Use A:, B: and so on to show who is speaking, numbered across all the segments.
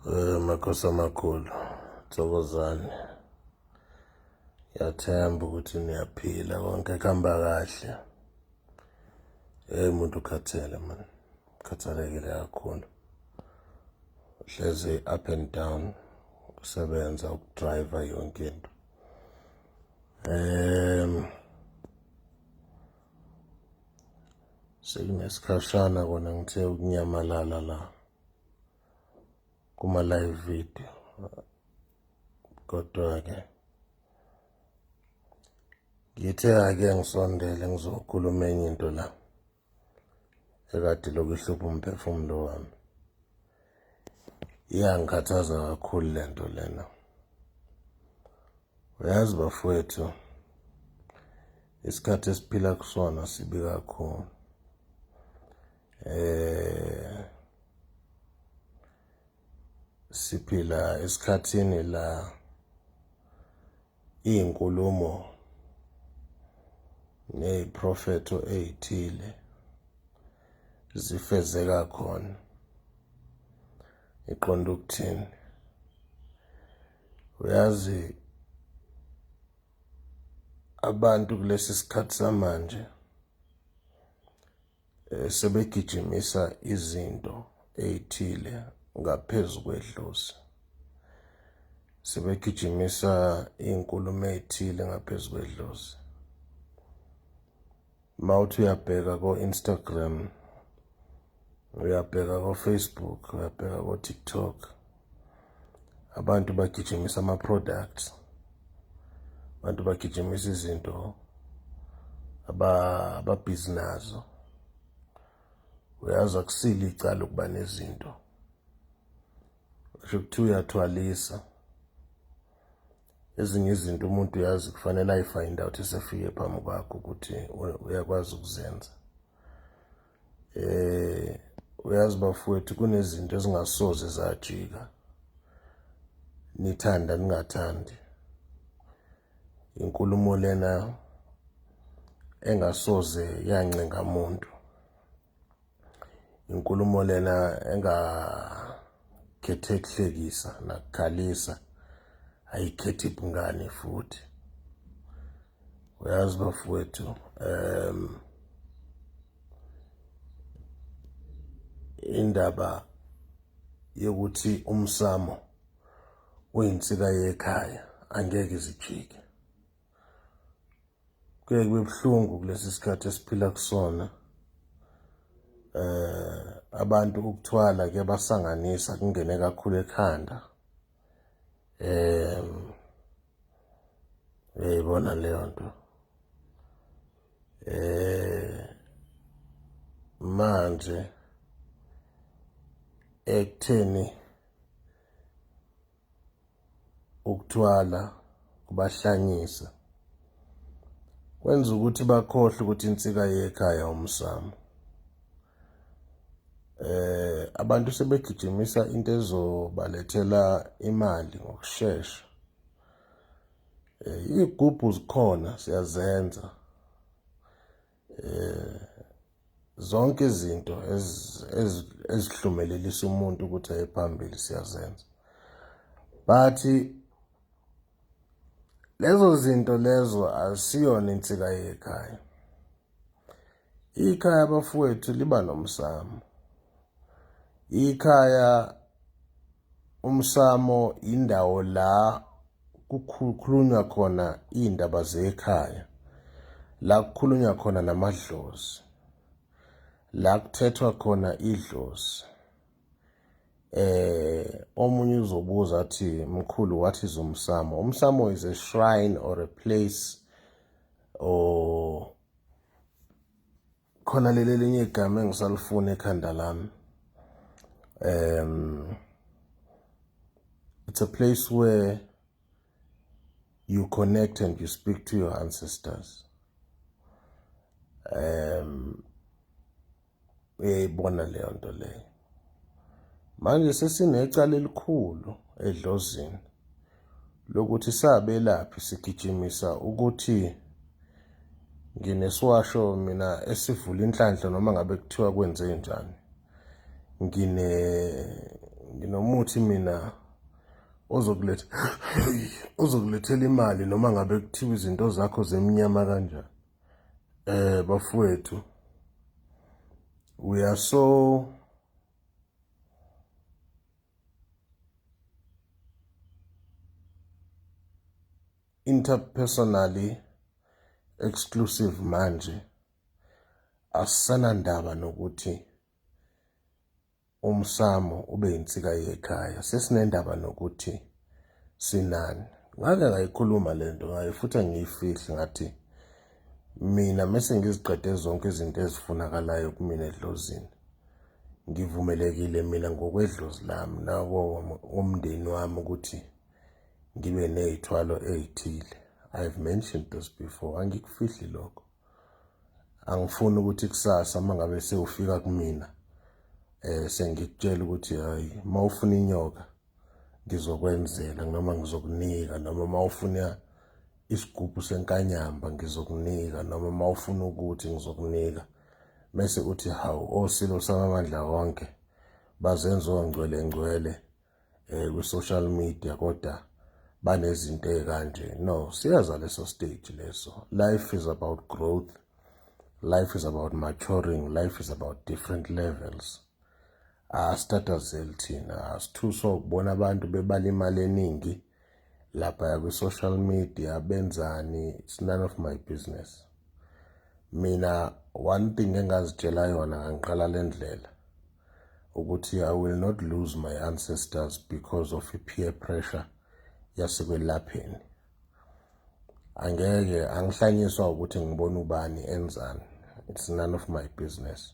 A: Eh, makhosi amakhulu thokozane ngiyathemba ukuthi niyaphila konke kuhamba kahle eyi muntu ukhathele mani ukhathalekile kakhulu hlezi up and down ukusebenza ukudriver yonke into um sekunesikhashana kona ngithe ukunyamalala la kuma live video kodwa ke ngithe ake ngisondele ngizokhuluma enye into la ekade lokuhlupha umphefumulo wami iyangikhathaza kakhulu le nto lena uyazi bafowethu isikhathi esiphila kusona sibi kakhulu eh siphila esikhathini la izinkulumo neziprofetho ezithile zifezeka khona iqonda ukuthini uyazi abantu kulesi sikhathi samanje eh, sebegijimisa izinto ey'thile ngaphezu kwedlozi sebegijimisa iy'nkulumo ey'thile ngaphezu kwedlozi uma uthi uyabheka ko-instagram uyabheka ko-facebook uyabheka ko-tiktok abantu bagijimisa ama-products abantu bagijimisa izinto ababhizi nazo uyazi akusile icala ukuba nezinto sho kuthiwa uyathwalisa ezinye izinto umuntu uyazi kufanele ayifind out esefike phambi kwakho ukuthi uyakwazi ukuzenza Eh uyazi bafowethu kunezinto ezingasoze zajika. Nithanda ningathandi. Inkulumo lena engasoze yancenga umuntu. Inkulumo lena enga khethe kuhlekisa nakukhalisa ayikhethi bungane futhi uyazi bafowethu um indaba yokuthi umsamo uyinsika yekhaya angeke izijike kuye kube buhlungu kulesi sikhathi esiphila kusona eh abantu ukuthwala kuyabasanganisa kungene kakhulu ekhanda um uyayibona leyo nto um manje ekutheni ukuthwala kubahlanyisa kwenza ukuthi bakhohlwe ukuthi insika yekhaya umsamo eh abantu sebegijimisa into ezobalethela imali ngokusheshsha eh igubhu zikhona siyazenza eh zonke izinto ezihlumelelisa umuntu ukuthi aye phambili siyazenza but lezo zinto lezo asiyona insika yekhaya Ikhaya abafowethu liba nomsamo. Ikhaya umsamo indawo la kukhulunywa khona iy'ndaba zekhaya, la kukhulunywa khona namadlozi, la kuthethwa khona idlozi. Eh omunye uzobuza athi mkhulu what is umsamo? Umsamo is a shrine or a place Oh. Khona leli linye igama engisalifuna ekhanda lami. Um it's a place where you connect and you speak to your ancestors. Um uyayibona leyo nto leyo manje sesinecala elikhulu edlozini lokuthi sabelaphi sigijimisa ukuthi nginesiwasho mina esivula inhlanhla noma ngabe kuthiwa kwenze njani ngine nginomuthi mina ozokuletha ozokulethela imali noma ngabe kuthiwa izinto zakho zemnyama kanjani Eh bafowethu we are so interpersonally exclusive manje asanandaba nokuthi umsamo ube insika yekhaya sesinendaba nokuthi sinani ngake ngayikhuluma lento ngaye futhi angiyifihle ngathi mina mese ngiziqede zonke izinto ezifunakalayo kumina edlozini ngivumelekile mina ngokwedlozi lami nako umndeni wami ukuthi ngibe nezithwalo ezithile i've mentioned this before angikufihli lokho angifuni ukuthi kusasa uma ngabe sewufika kumina eh sengikutshela ukuthi hayi uma ufuna inyoka ngizokwenzela noma ngizokunika noma uma ufuna isigubhu senkanyamba ngizokunika noma uma ufuna ukuthi ngizokunika mese uthi hawu osilo samamandla wonke bazenza ongcwele ngcwele eh ku social media kodwa banezinto ezikanje no siyaza leso stage leso life is about growth life is about maturing life is about different levels asitatazeli thina asithuso ukubona abantu bebala imali eningi laphaya kwi-social media benzani it's none of my business mina one thing engazitshela yona ngangiqala le ndlela ukuthi i will not lose my ancestors because of i-peer pressure yasekwelapheni angeke angihlanyiswa ukuthi ngibona ubani enzani it's none of my business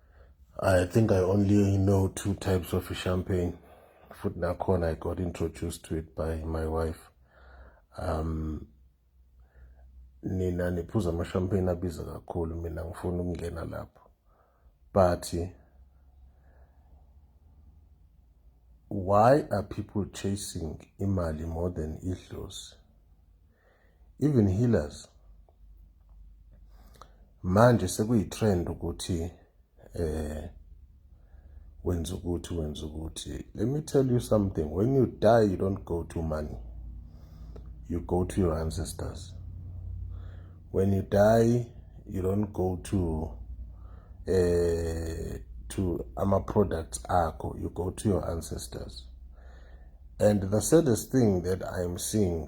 A: I think I only know two types of champagne. Futhi nakhona I got introduced to it by my wife. Um nina niphuza ama-champagne abiza kakhulu mina ngifuna ukungena lapho but why are people chasing imali more than idlozi even healers manje sekuyitrend ukuthi eh wenza ukuthi wenza ukuthi let me tell you something when you die you don't go to money you go to your ancestors when you die you don't go to eh to ama products akho you go to your ancestors and the saddest thing that i'm seeing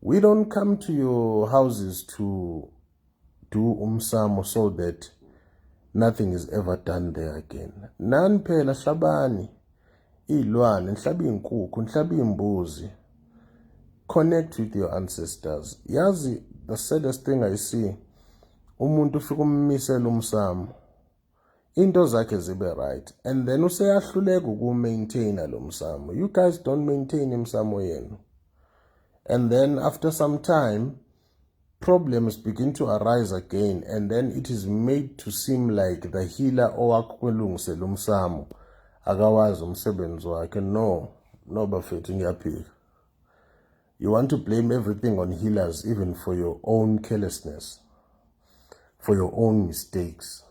A: We don't come to your houses to do umsamo so that nothing is ever done there again. Nani phela hlabani iy'lwane, nihlaba iy'nkukhu, nihlaba iy'mbuzi. Connect with your ancestors. Yazi the saddest thing I see umuntu ufika ummisela umsamo into zakhe zibe right and then useyahluleka ukumaintaina lo msamo you guys don't maintain imsamo yenu and then after some time problems begin to arise again and then it is made to seem like the healer owakulungise lo msamo akawazi umsebenzi wakhe no no bafethu ngiyaphika You want to blame everything on healers even for your own carelessness, for your own mistakes.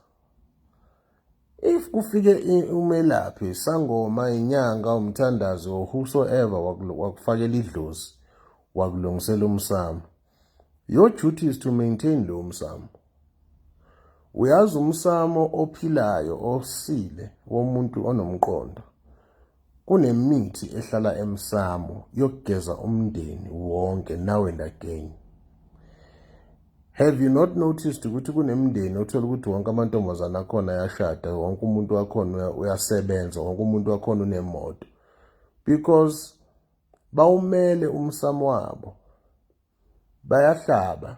A: If kufike umelaphi sangoma inyanga umthandazi or whosoever wakufakela idlozi wakulungisela umsamo your duty is to maintain lo msamo uyazi umsamo ophilayo osile womuntu onomqondo Kunemithi ehlala emsamo yokugeza umndeni wonke nawe ndagenye. Have you not noticed ukuthi kunemndeni othola ukuthi wonke amantombazane akhona ayashada, wonke umuntu wakhona uyasebenza, wonke umuntu wakhona unemoto. Because bawumele umsamo wabo. Bayahlaba.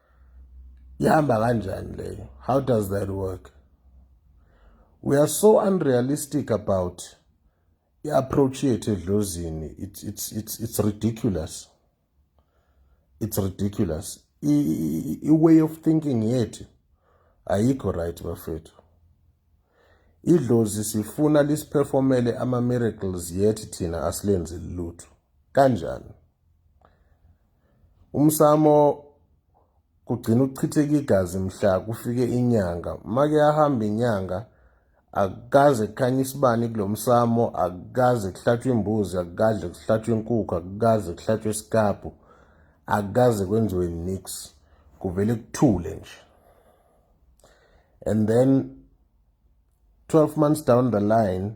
A: ihamba kanjani leyo how does that work we are so unrealistic about i-approach yethu edlozini it's, it's, it's, it's ridiculous it's ridiculous i-way of thinking yethu ayikho right bafethu idlozi sifuna lisiphefomele ama-miracles yethi thina asilenzi lutho kanjani Umsamo kugcina ukuchitheka igazi mhla kufike inyanga. Make ahamba inyanga akukaze kukhanye isibani kulo msamo, akukaze kuhlatshwe imbuzi, akukaze kuhlatshwe inkukhu, akukaze kuhlatshwe isikabhu, akukaze kwenziwe nix. Kuvele kuthule nje. And then 12 months down the line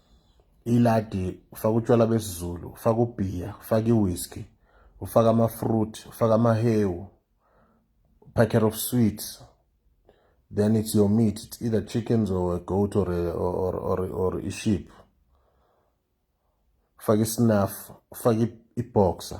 A: iladi ufaka utshwala besizulu ufaka ubhiya ufaka iwhisky ufaka amafruit ufaka amahewu packet of sweets then it's your meat it's either chickens or a goat or a, or, or, or a sheep ufaka isnaff ufaka iboxer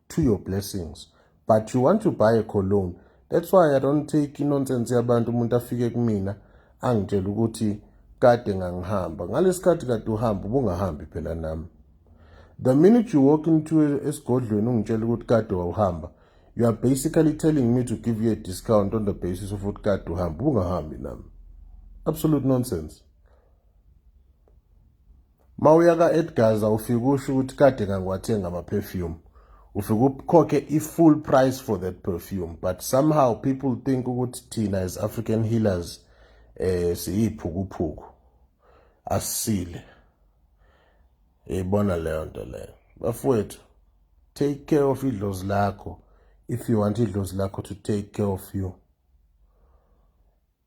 A: to your blessings but you want to buy a cologne that's why i don't take inonsense yabantu umuntu afike kumina angitshela ukuthi kade ngangihamba ngalesikhathi kade uhamba ubungahambi phela nami the minute you walk into esigodlweni ungitshela ukuthi kade wawuhamba you are basically telling me to give you a discount on the basis of ukuthi kade uhamba ubungahambi nami absolute nonsense Mawuya ka Edgaza ufike usho ukuthi kade kangiwathenga ama perfume. Ufike ukhokhe i full price for that perfume but somehow people think ukuthi thina as African healers eh siyiphukuphuku. Asile. Yibona leyo nto leyo. Bafowethu take care of idlozi lakho if you want idlozi lakho to take care of you.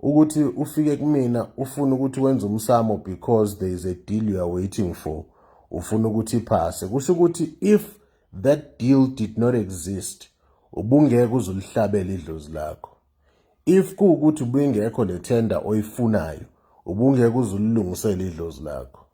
A: ukuthi ufike kumina ufuna ukuthi wenze umsamo because there is a deal you are waiting for ufuna ukuthi iphase kusho ukuthi if that deal did not exist ubungeke uzulihlabela idlozi lakho if kuwukuthi ubingekho le tender oyifunayo ubungeke uzulilungisele idlozi lakho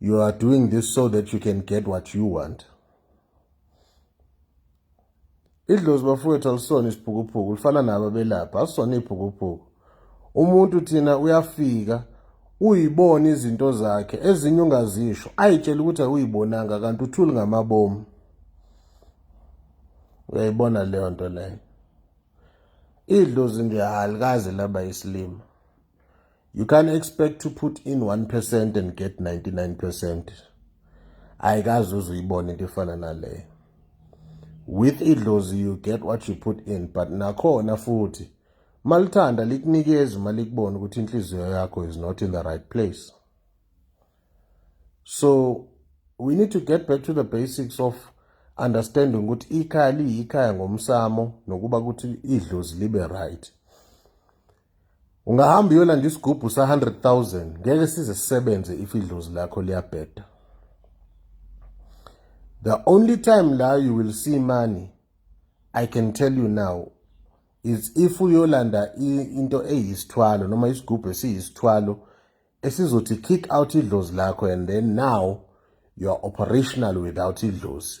A: You are doing this so that you can get what you want. Idlozi bafowethu alisona isiphukuphuku lifana nabo abelapha asisona iphukuphuku. Umuntu thina uyafika uyibona izinto zakhe ezinye ungazisho ayitshela ukuthi awuyibonanga kanti uthuli ngamabomu uyayibona leyo nto leyo idlozi nje alikaze laba isilima You can't expect to put in 1% and get 99%. Ayikaze uzuyibone into efana naleyo. With idlozi you get what you put in but nakhona futhi malithanda likunikeza uma likubona ukuthi inhliziyo yakho is not in the right place. So we need to get back to the basics of understanding ukuthi ikhaya liyikhaya ngomsamo nokuba ukuthi idlozi libe right. ungahamba uyolanda isigubhu sa-100,000 ngeke size sisebenze if idlozi lakho liyabheda the only time la you will see money i can tell you now is if uyolanda into eyisithwalo noma isigubhu esiyisithwalo esizothi kick out idlozi lakho and then now you are operational without idlozi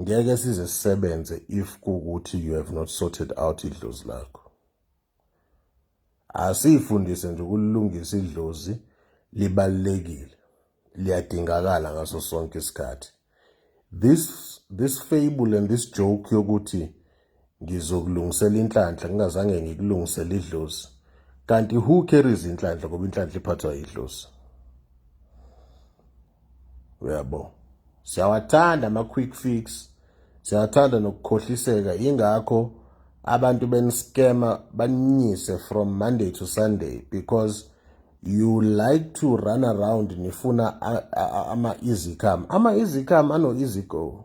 A: ngeke size sisebenze if kukuthi you have not sorted out idlozi lakho asifundise nje ukulungisa idlozi libalekile liyadingakala ngaso sonke isikhathi this this fable and this joke yokuthi Ngizokulungisela inhlanhla ngingazange ngikulungisele idlozi. Kanti who carries inhlanhla ngoba inhlanhla iphathwa idlozi. Uyabo. Siyawathanda ama quick fix. Siyathanda nokukhohliseka ingakho abantu beniscammer baninyise from Monday to Sunday because you like to run around nifuna ama easy come. Ama easy come ano easy go.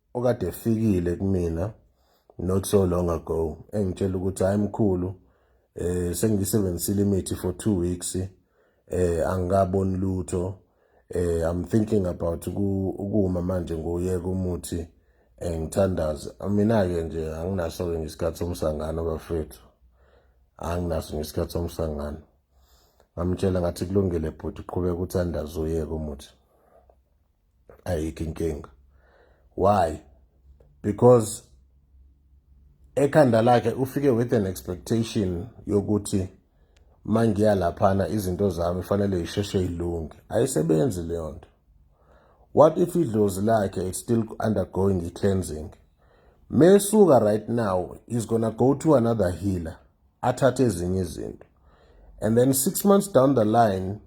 A: okade efikile kumina not so long ago engitshela ukuthi hayi mkhulu eh sengiyisebenzisile imithi for 2 weeks eh angikaboni lutho eh i'm thinking about ukuma manje ngoyeka umuthi eh ngithandaze mina ke nje anginaso ke ngesikhathi somsangano bafethu anginaso ngesikhathi somsangano ngamtshela ngathi kulungile bhuti qhubeka uthandaze uyeke umuthi ayikho inkinga why because ekhanda lakhe ufike with an expectation yokuthi mangiya laphana izinto zami fanele isheshe ilunge ayisebenzi leyo nto what if idlozi lakhe is still undergoing i-cleansing mesuka right now is gonna go to another healer athathe ezinye izinto and then six months down the line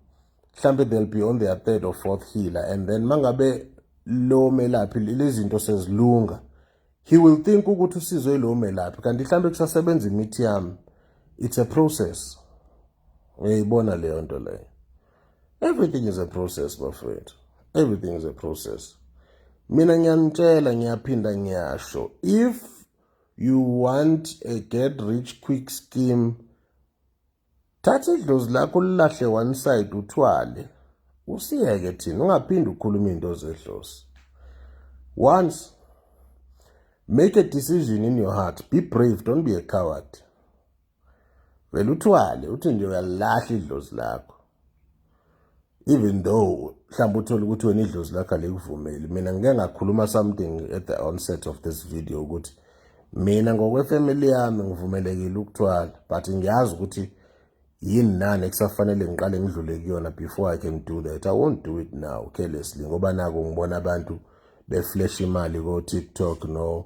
A: mhlampe they'll be on their third or fourth healer and then mangabe lo melaphi lezinto sezilunga he will think ukuthi usizwe lo melaphi kanti mhlampe kusasebenza imithi yami it's a process uyayibona leyo nto leyo everything is a process bafowethu everything is a process mina ngiyanitshela ngiyaphinda ngiyasho if you want a get rich quick scheme Thatha idlozi lakho lilahle one side uthwale. Usiyeke thina ungaphindi ukhuluma into zedlozi. Once make a decision in your heart. Be brave, don't be a coward. Vele uthwale uthi nje uyalahla idlozi lakho. even though mhlawumbe uthole ukuthi wena idlozi lakho alikuvumeli mina ngike ngakhuluma something at the onset of this video ukuthi mina ngokwefamily yami ngivumelekile ukuthwala but ngiyazi ukuthi yini nani ekusafanele ngiqale ngidlule kuyona before i can do that i won't do it now carelessly ngoba nako ngibona abantu beflash imali ko-tiktok no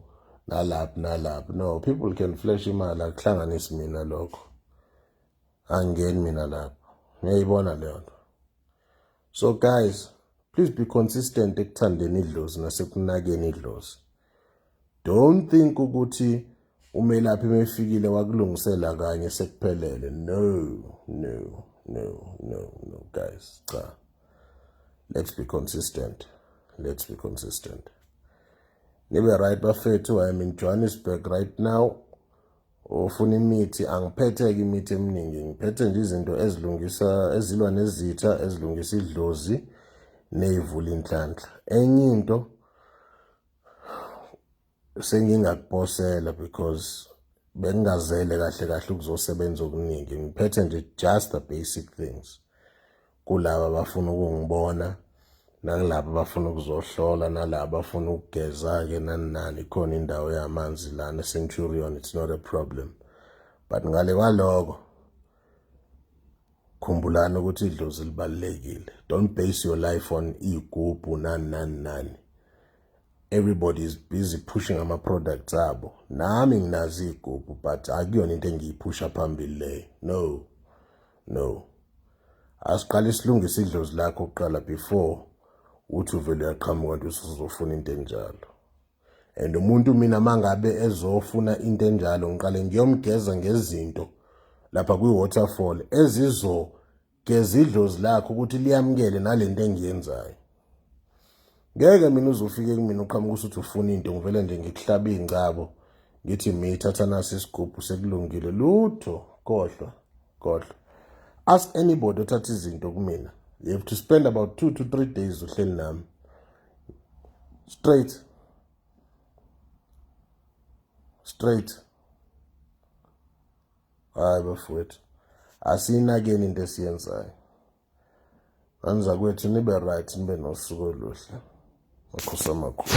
A: nalaphi nalaphi no people can flash imali akuhlanganisi mina lokho angeni mina lapho ngiyayibona leyo nto so guys please be consistent ekuthandeni idlozi nasekunakeni idlozi don't think ukuthi umelaphi mefikile wakulungisela kanye sekuphelele no no no no no guys cha let's be consistent let's be consistent nibe right bafethu i am in johannesburg right now Ufuna imithi, angiphetheke imithi eminingi, ngiphethe nje izinto ezilungisa ezilwa nezitha, ezilungisa idlozi neyivula inhlanhla. Enye into sengingakuposela because bengingazele kahle kahle ukuzosebenza okuningi ngiphethe nje just the basic things kulaba abafuna ukungibona nakulaba abafuna ukuzohlola nalaba abafuna ukugeza-ke nani nani khona indawo yamanzi lana centurion it's not a problem but ngale kwaloko khumbulani ukuthi idlozi libalulekile don't base your life on iy'gubhu nani nani nani everybody is busy pushing ama-products abo nami nginazo iy'gubhu but akuyona into engiyiphusha phambili leyo no No. Asiqale silungise idlozi lakho kuqala before uthi uvele uyaqhamuka nto usuzofuna into enjalo. And umuntu mina mangabe ezofuna into enjalo ngiqale ngiyomgeza ngezinto lapha kwi-waterfall ezizogeza idlozi lakho ukuthi liyamukele nalento engiyenzayo. ngeke mina uzofike kumina uqhamuka usuthi ufuna into ngivele nje ngikuhlabe ingcabo ngithi miyithatha nasi isigubhu sekulungile lutho kodwa kodwa ask anybody othatha izinto kumina you have to spend about two to three days uhleli nami straight straight hayi bafowethu asiyinakeni into esiyenzayo Ngani zakwethu nibe right nibe nosuku oluhle. Makhosi amakhulu.